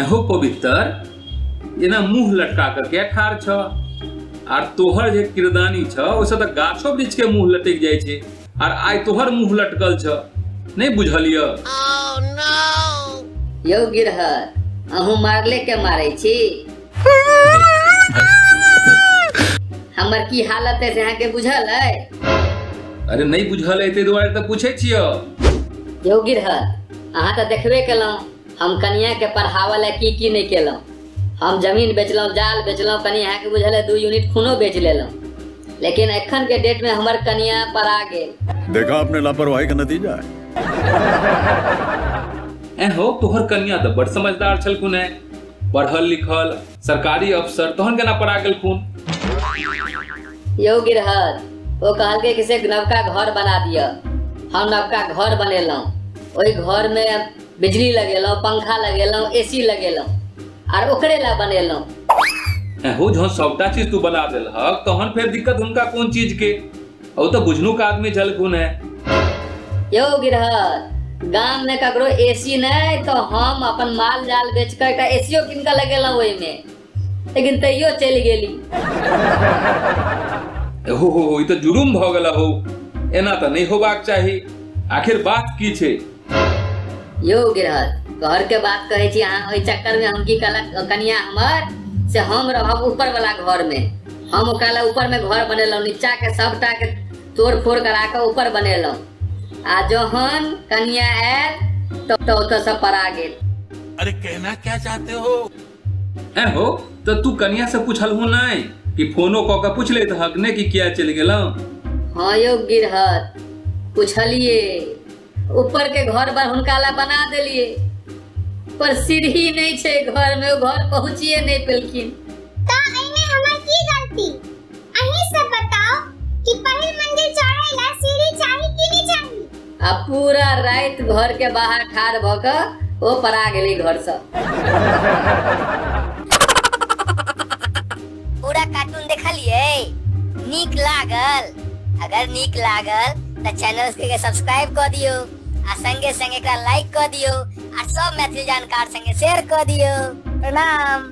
हो पवित्र एना मुंह लटका कर के ठार छ आर तोहर जे किरदानी छ ओसे त गाछो वृक्ष के मुंह लटक जाय छे आर आय तोहर मुंह लटकल छ नहीं बुझलिय यौ गिरहर अहूँ मारले के मारे छी हमर की हालत है से अहाँ के बुझल है अरे नहीं बुझल है ताहि दुआरे तऽ पूछै छियौ यौ गिरहत अहाँ तऽ देखबे केलहुँ हम कनिया के पढ़ावऽ लए की की नहीं केलहुँ हम जमीन बेचलहुँ जाल बेचलहुँ कनि अहाँ के बुझल है दू यूनिट खूनो बेच लेलहुँ लेकिन एखन के डेट में हमर कनिया पढ़ा गेल देखा आपने लापरवाही का नतीजा है ऐ हो तोहर कन्या तऽ बड़ समझदार छलखुन है पढ़ल लिखल सरकारी अफसर तहन केना पड़ा गेलखुन यौ गिरहर ओ कहलकै कि से नवका घर बना दिअ हम नवका घर बनेलहुँ ओहि घरमे बिजली लगेलहुँ पंखा लगेलहुँ एसी लगेलहुँ आर ओकरे ला बनेलहुँ एहो जहन सबटा चीज तू बना देलहक तहन फेर दिक्कत हुनका कोन चीज के ओ तो बुझनू का आदमी झलकू ने यो गिरहत गांव में ककरो एसी नहीं तो हम अपन माल जाल बेच कर का एसीओ किनका लगेला ओहि में लेकिन तैयो चल गेली हो हो हो, ई तो जुलुम भ गेला हो एना तो नहीं होबाक चाही आखिर बात की छे यो गिरहत घर के बात कहै छी अहाँ ओहि चक्कर में हम की कहलक कनिया हमर से हम रहब ऊपर वाला घर में हम ओकरा ऊपर में घर बनेलहुँ नीचा के सबटा के तोड़ फोड़ करा के ऊपर बनेलहुँ आ जहन कनिया आयल तो, तो ओतऽ सब पड़ा गेल अरे कहना क्या चाहते हो ए हो तो तू कनिया से पूछल हूँ नहीं कि फोनो कऽ के पूछ लेत हक ने कि किया चलि गेलहुँ हाँ यौ गिरहत पूछलिए ऊपर के घर पर हुनका ला बना देलिए पर सीढ़ी नहीं छे घर में वो घर पहुँचिए नहीं पेलखिन ता एमे हमर की गलती अहीं सब बताओ कि पहिल मंदिर चढ़े ला सीढ़ी चाही कि नहीं चाही आ पूरा रात घर के बाहर ठार भ क वो परा गेली घर से पूरा कार्टून देखलिए नीक लागल अगर नीक लागल तो चैनल के सब्सक्राइब कर दियो आ संगे संगे एकरा लाइक कर दियो आ सब मैथिली जानकार संगे शेयर कर दियो प्रणाम